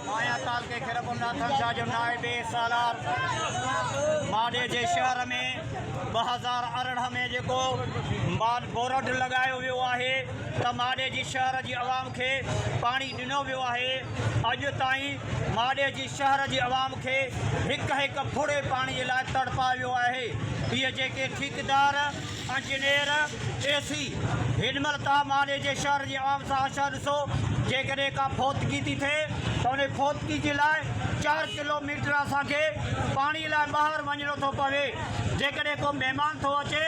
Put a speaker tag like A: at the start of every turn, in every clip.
A: مايا تعلقي کي رگهوناٿن شاهه جو نائب سالار ماڏي جي شهر ۾ ٻه هزار ارڙهن ۾ جيڪو بورڊ لڳايو ويو آهي ته ماڏي جي شهر جي عوام کي پاڻي ڏنو ويو آهي اڄ تائين ماڏي جي شهر جي عوام کي هڪ هڪ ڦڙي پاڻي جي لاء تڙپايو ويو آهي اهي جيڪي ٺيڪيدار انجنيئر اي سي، هن مهل توهان ماني جي شهر جي عام ساهشاهه ڏسو، جيڪڏهن ڪا فوتگي ٿي ٿئي ته انهي فوتگي جي لاء چار ڪلو ميٽر اسان کي پاڻي لاء ٻاهر وڃڻو ٿو پوي، جيڪڏهن ڪو مهمان ٿو اچي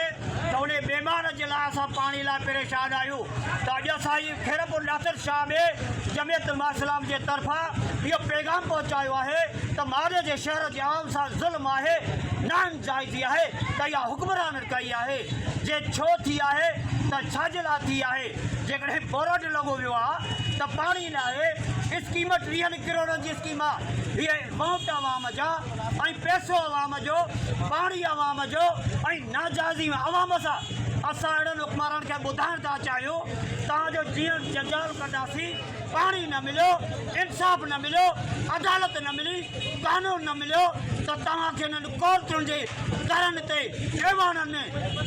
A: ته انهي مهمان جي لاء اسان پاڻي لاء پريشان آهيون ته اڄ اسان هي خيرپور ناصر شاهه ۾ جمعيت علماء اسلام جي طرفان اهو پيغام پهچايو آهي ته ماني جي شهر جي عوام سان ظلم آهي ناانجائزي آهي ته اها حڪمران ڪئي آهي؟ جي ڇو ٿي آهي ته ڇا جي لاء ٿي آهي؟ جيڪڏهن بورڊ لڳو ويو آ ته پاڻي نه آهي، اسڪيم ٽيهن ڪروڙن جي اسڪيم آ، هيء امائونٽ عوام جا ۽ پئسو عوام جو، پاڻي عوام جو ۽ ناجائزي عوام سان، اسان اهڙن حڪمرانن کي ٻڌائڻ ٿا چاهيون تان جو جيئن جنجال ڪڍاسين. پاڻي نه مليو، انصاف نه مليو، عدالت نه ملي، قانون نه مليو ته توهان کي انهن ڪورٽن جي درن تي، ايوانن ۾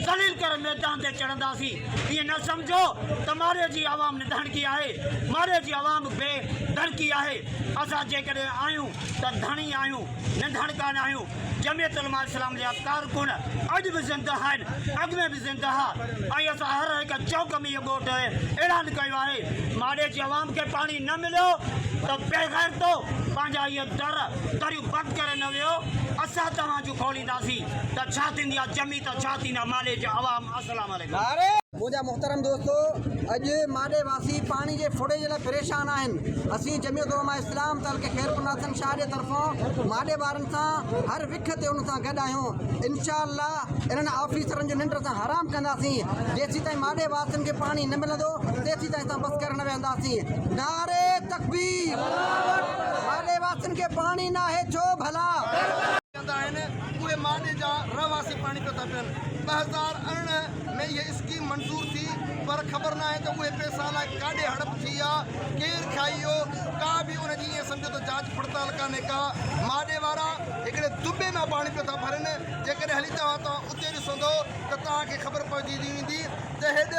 A: ذليل ڪري ميدان تي چڙهنداسين. ائين نه سمجهو ته مارئي جي عوام نڌڻڪي آهي. مارئي جي عوام بي ڌڻڪي آهي. اسان جيڪڏهن آهيون ته ڌڻي آهيون، نڌڻڪا ناهيون. جمعيت علماء اسلام جا ڪارڪن اڄ به زنده آهن، اڳ ۾ به زنده ها ۽ اسان هر هڪ چوڪ ۾ اهو ٻوٽ اعلان ڪيو آهي. ماڙي جي عوام کي پاڻي نه مليو ته بيغيرتو پنهنجا اهي در دريون بند ڪري نه ويو، اسان توهان جون کولينداسين ته ڇا ٿيندي آهي جمعيت ڇا ٿيندا ماڙي جي عوام اسلام عليڪم. منهنجا محترم
B: دوستو! اڄ ماڏي واسي پاڻي جي ڦڙي جي لاء پريشان آهن. اسين جمعيت علماء اسلام تعلقي خيرپورناصر شاهه جي طرفان ماڏي وارن سان هر وک تي انهن سان گڏ آهيون. انشاء الله انهن آفيسرن جون ننڊ اسان حرام ڪنداسين. جيسيتائين ماڏي واسين کي پاڻي نه ملندو تيسيتائين اسان بس ڪرڻ نه ويهنداسين. نعري تڪبير. ماڏي واسين کي پاڻي ناهي ڇو ڀلا؟ ڪندا آهن اهي ماڏي جا رهواسي پاڻي پيو ٿا پين ٻه هزار ارڙهن ۾ اهي اسڪيم منظور ٿي پر خبر ناهي ته اهي پئسا الاء ڪاڏي هڙپ ٿي يا ڪير کائي ويو ڪا به ان جي ائين سمجهو ته جاچ پڙتال ڪانهي ڪا ماڏي وارا هڪڙي دٻي مان پاڻي پيو ٿا ڀرن جيڪڏهن هلي توهان توهان اتي ڏسندو ته توهان کي خبر پئجي ويندي ته هيڏ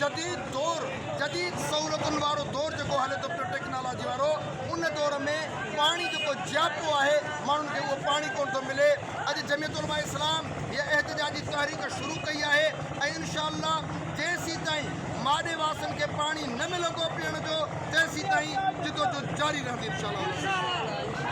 B: جديد دور جديد سهولتن وارو دور جيڪو هلي ٿو پيو ٽيڪنالاجي وارو ان دور ۾ پاڻي جيڪو جياپو آهي، ماڻهن کي اهو پاڻي ڪونه ٿو ملي. اڄ جميعت علماء اسلام هيء احتجاجي تحريڪ شروع ڪئي آهي ۽ انشاء الله جيسيتائين ماڏي واسين کي پاڻي نه ملندو پيئڻ جو، تيسيتائين جدوجھد جاري رهندي انشاء الله.